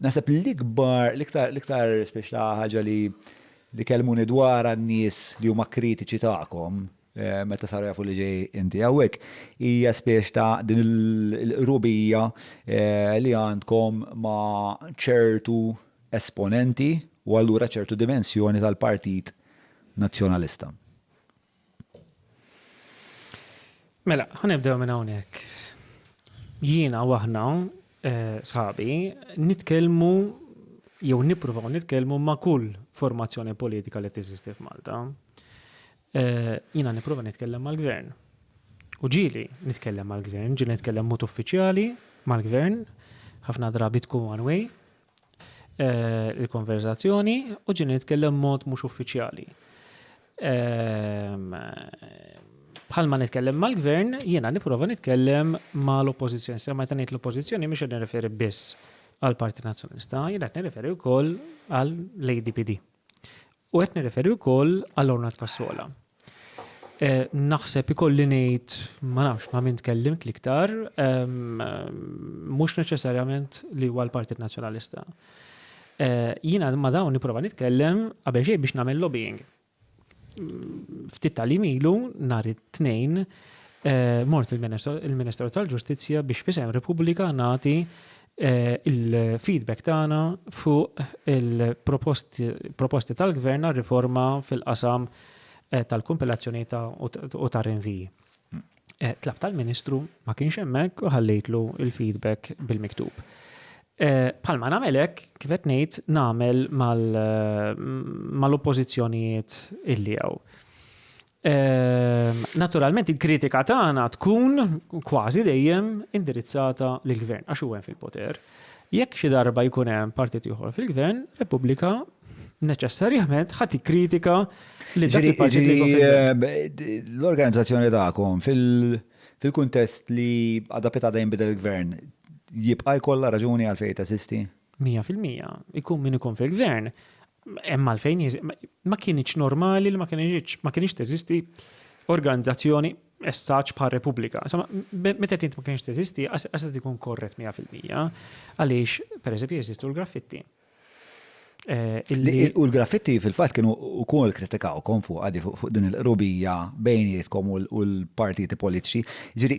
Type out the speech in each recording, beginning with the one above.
Naħseb l-ikbar, l-iktar, l-iktar speċta ħaġa li li kelmuni dwarha n-nies li huma kritiċi tagħkom meta saru jafu li ġej inti hawnhekk, hija spiex ta' din il-qrubija li għandkom ma' ċertu esponenti u allura ċertu dimensjoni tal-Partit Nazzjonalista. Mela, ħanibdew minn hawnhekk. Jiena u aħna eh, sħabi nitkellmu jew nippruvaw nitkellmu ma' kull formazzjoni politika li teżisti f'Malta. Eh, jiena nipprova nitkellem mal-gvern. U ġili nitkellem mal-gvern, ġili nitkellem mod uffiċjali mal-gvern, ħafna drabi tkun one way, il-konverzazzjoni u ġini nitkellem mod mhux uffiċjali. Ehm, bħalma nitkellem mal-gvern, jiena nipprova nitkellem mal-oppożizzjoni. Se meta ngħid l-oppożizzjoni mhux qed nirreferi biss għall-Parti Nazzjonalista, jiena qed nirreferi wkoll għall-ADPD. U qed nirreferi wkoll għall-Ornat Cassola. Naħseb ikolli ngħid, ma nafx ma' min tkellimt l-iktar, mhux neċessarjament li huwa l-Partit Nazzjonalista. Jiena ma' dawn nipprova nitkellem qabel xejn biex nagħmel lobbying. Ftit tal-jiem ilu nhar it-Tnejn mort il-Ministeru tal-Ġustizzja biex f'isem Repubblika nagħti il-feedback tagħna fuq il-proposti tal-Gvern għal riforma fil-qasam eh, tal-kompilazzjoni u ta' rinviji. Eh, tlab tal-Ministru ma kienx hemmhekk u ħallejtlu il-feedback bil-miktub. Eh, palma namelek, kifet ngħid namel mal-oppożizzjonijiet illi għaw. Ehm, naturalment il-kritika tagħna tkun kważi dejjem indirizzata lill gvern għax huwa fil-poter. Jekk xi darba jkun hemm partit ieħor fil-gvern, Repubblika neċessarjament ħati kritika li l-organizzazzjoni tagħkom fil-kuntest li għadha pita dejjem bidel il-gvern jibqa' jkollha raġuni għal fejn tesisti? 100% ikun min ikun fil-gvern Hemm għalfejn ma kienx normali li ma kienx ma kienx teżisti organizzazzjoni essaċ bħal Repubblika. Insomma, meta tint ma kienx teżisti, għasat ikun korret 100%, għaliex, per eżempju, jeżistu l-graffitti. Eh, u l-graffitti fil-fat kienu u kol kritikaw kon fuq għadi fuq din il-rubija bejnietkom u l-partiti politiċi. Ġiri,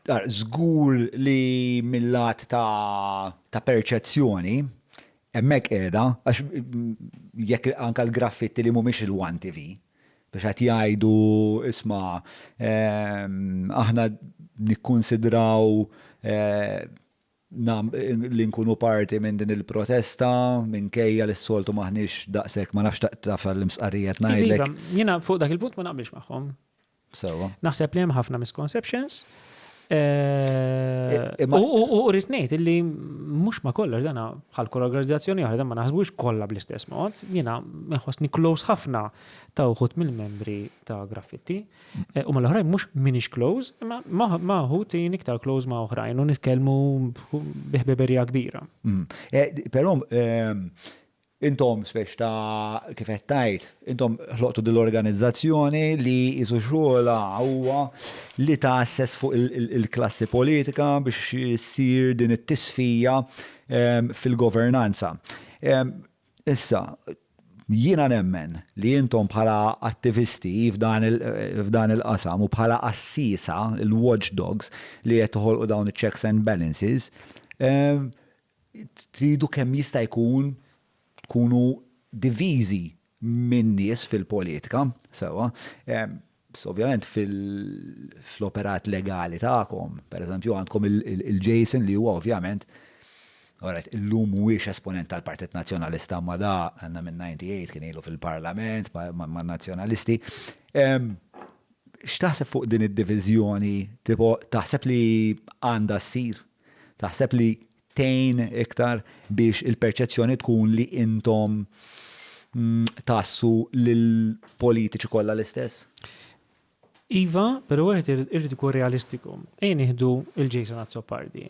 Ara, żgur li mil-lat ta' perċezzjoni, hemmhekk qiegħda, għax jekk anke l-graffitti li mhumiex il-one TV, biex qed jgħidu isma' aħna nikkunsidraw li nkunu parti minn din il-protesta minkejja li s-soltu m'aħniex daqshekk, ma nafx taf għall-imstqarrija qed ngħidlek. Iva, jiena fuq dak il-punt ma naqbilx magħhom. Sewa. Naħseb li hemm ħafna misconceptions. Eh, u rrid ngħid illi mhux ma kollox dana bħal kull organizzazzjoni oħra ma naħsbux kollha bl-istess mod, jiena nħossni close ħafna ta' uħut mill-membri ta' graffitti. Eh, u mal-oħrajn mhux minix close, imma ma uħut jien iktar close ma' oħrajn u nitkellmu biħbeberija kbira. Mm. Eh, però ehm, Intom, specie ta', kif qed tgħid, intom ħloqtu din l-organizzazzjoni li qisu xogħolha huwa li tgħasses fuq il-klassi politika biex issir din it-tisfija fil-governanza. Issa, jiena nemmen li intom bħala attivisti f'dan il-qasam u bħala qassiesa, il-watchdogs li qed toħolqu dawn iċ-checks and balances, tridu kemm jista' jkun tkunu diviżi min-nies fil-politika, sewwa, ovvjament fl-operat legali tagħkom, pereżempju għandkom il-Jason li huwa ovvjament, alright, illum mhuwiex esponent tal-Partit Nazzjonalista imma da għandna minn 98 kien ilu fil-Parlament man-Nazzjonalisti. X'taħseb fuq din id-diviżjoni? Tipo, taħseb li għandha ssir? Taħseb li tgħin iktar biex il-perċezzjoni tkun li intom tgħassu lill-politiċi kollha l-istess? Iva, però wieħed irid ikun realistiku. Ejja nieħdu il Jason Azzopardi.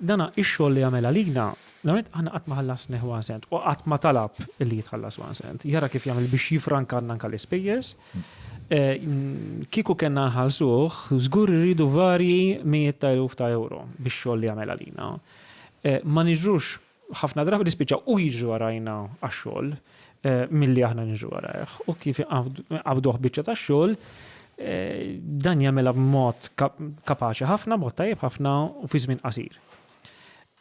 Dana ix-xogħol li jagħmel għalina, l-għanet aħna qatt ma ħallasnih one cent u qatt ma talab li jitħallas one cent. Jara kif jagħmel biex jifrankanna anke l-ispejjeż. Kieku kellna nħallsuh, żgur irridu varji mijiet ta' eluf ta' ewro bix-xogħol li jagħmel għalina. Ma niġrux, ħafna drabi nispiċċaw hu jiġri warajna għax-xogħol milli aħna niġru warajh. U kif inqabduh biċċa tax-xogħol, dan jagħmilha b'mod kapaċi ħafna, b'mod tajjeb ħafna u fi żmien qasir.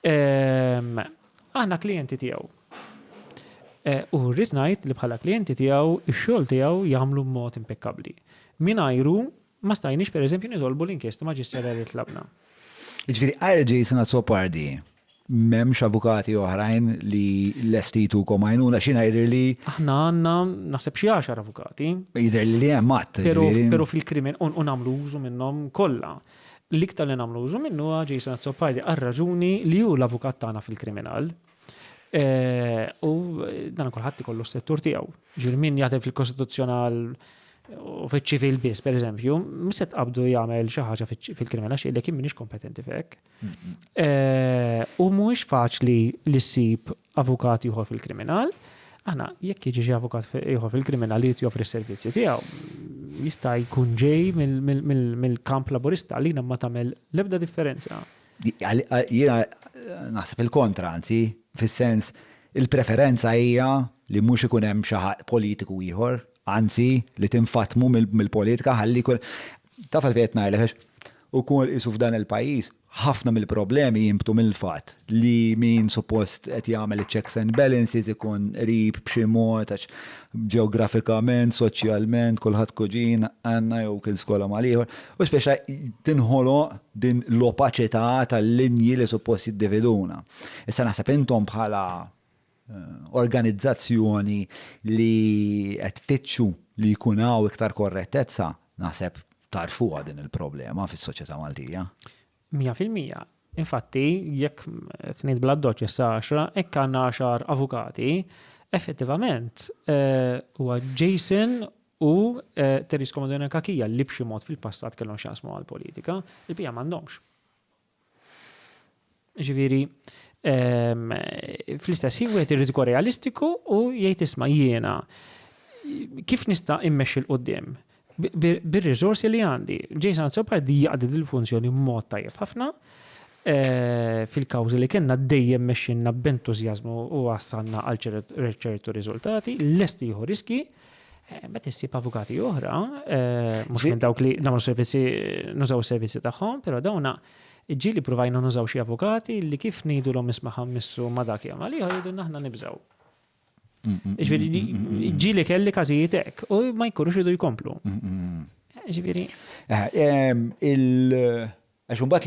Ehm, aħna klijenti tiegħu. Eh, u rrid ngħid li bħala klijenti tiegħu x-xogħol tiegħu jagħmlu mod impekkabbli. Minajru ma stajniex pereżempju nitolbu l-inkjesta maġisterali tlabna. Ġifieri għajr Jason Azzopardi memx avukati oħrajn li l-estitu komajnuna xina jidir li. Aħna għanna naħseb xie għaxar avukati. Jidir li li għemmat. Pero fil-krimin un għamlu użu minnom kolla. L-iktar li nagħmlu użu minnu huwa Jason Azzopardi għar-raġuni li hu l-avukat tagħna fil-kriminal. U dan kulħadd ikollu s-settur tiegħu. Ġifieri min jaħdem fil-kostituzzjonal u fiċ-ċivil biss, per eżempju, se tqabdu jagħmel xi ħaġa fil-kriminal xi li kien minix kompetenti fek. U mhuwiex faċli li ssib avukat ieħor fil-kriminal, aħna jekk jiġi xi avukat ieħor fil-kriminal li joffri s-servizzi tiegħu, jista' jkun ġej mill-kamp laburista li ma tagħmel l-ebda differenza. Jiena naħseb il-kontra, anzi, fis-sens il-preferenza hija li mhux ikun hemm xi politiku ieħor, anzi li tinfatmu mill-politika ħalli jkun Taf għalfejn qed ngħidlek għax ukoll qisu f'dan il-pajjiż ħafna mill-problemi jinbtu mill-fatt li min suppost qed jagħmel iċ-checks and balances ikun qrib b'xi mod għax ġeografikament, soċjalment, kulħadd kuġin għandna jew kien skola mal-ieħor u spiċċa tinħoloq din l-opaċità tal-linji li suppost jiddividuna. Issa naħseb intom bħala organizzazzjoni li qed tfittxu li jkun hawn iktar korrettezza, naħseb tagħrfuha din il-problema fis-soċjetà Maltija. Mija fil-mija. Infatti, jekk qed ngħid bl-addoċċ issa għaxra, hekk għandna għaxar avukati, effettivament huwa Jason u Terry Scomodona Cachia li b'xi mod fil-passat kellhom x'jaqsmu mal-politika, il-bqija m'għandhomx. Ġifieri, ehm, fl-istess ħin wieħed irid ikun realistiku u jgħid isma' jiena kif nista' immexxi l qudiem bir-riżorsi li għandi. Jason Azzopardi di jaqdi dil-funzjoni mod tajjeb ħafna eh, fil-kawżi li kellna dejjem mexxinna b'entużjażmu u għassanna għal ċertu riżultati, lesti jieħu riski Eh, meta issib avukati oħra, eh, mhux minn dawk li nagħmlu servizzi, nużaw servizzi tagħhom, però dawna ġili provajna nużaw xi avukati li kif ngħidu l ismaħam missu ma dak jagħmel li jgħidu aħna nibżaw. Mm, mm, Ġifieri mm, ġili kelli każijiet hekk u ma jkunux idu jkomplu. Ġifieri. Eh, il- Għax imbagħad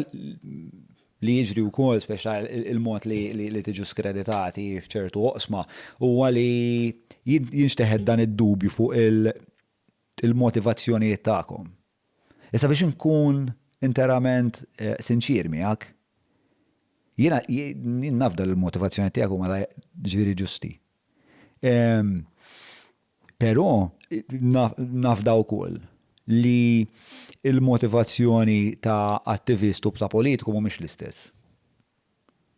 li jiġri wkoll speċta il-mod li tiġu skreditati f'ċertu oqsma huwa li jinxteħet dan id-dubju fuq il-motivazzjonijiet tagħkom. Issa biex inkun interament sinċier miegħek, jiena nafda li l-motivazzjonijiet tiegħek huma ġifieri ġusti. Però nafda wkoll li l-motivazzjoni ta' attivist u ta' politiku mhumiex l-istess.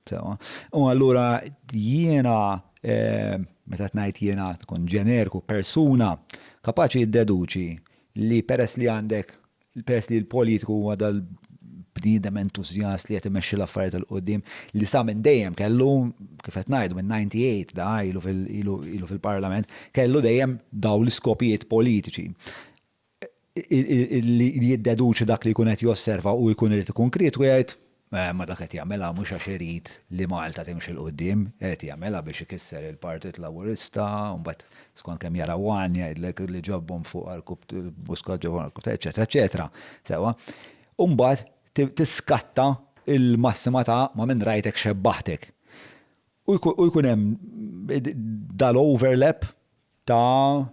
Sewwa. U allura jiena, meta qed ngħid jiena tkun ġenerku, persuna kapaċi ddeduċi li peress li għandek Peress li l-politiku huwa dal-bniedem entużjast li qed imexxi l-affarijiet 'il quddiem, li sa minn dejjem kellu, kif qed ngħidu, min-98 da ilu fil-Parlament, kellu dejjem dawn l-iskopijiet politiċi, li jiddeduċi dak li jkun qed josserva u jkun irid ikun kritiku jgħid, Imma dak qed jagħmilha mhux għax irid li Malta timxi 'l quddiem, qed jagħmilha biex ikisser il-Partit Laburista, u mbagħad skont kemm jara one jgħidlek li ġabhom fuq għarkup Muscat ġabhom fuq għarkup ta' eċċetera eċċetera. Sewwa? U mbagħad tiskatta l-massima ta' ma minn rajtek xebbahtek. U jkun hemm dal-overlap ta'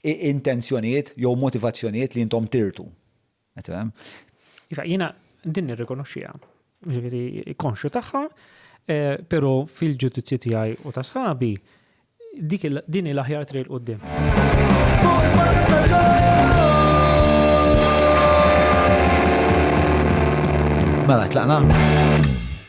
intenzjonijiet jew motivazzjonijiet li intom tirtu. Iva, jiena din nirrikonoxxiha. Ġifieri konxju tagħha, eh, però fil-ġudizzju tiegħi u ta' sħabi dik din il-aħjar triq qudiem. Mela, tlaqna?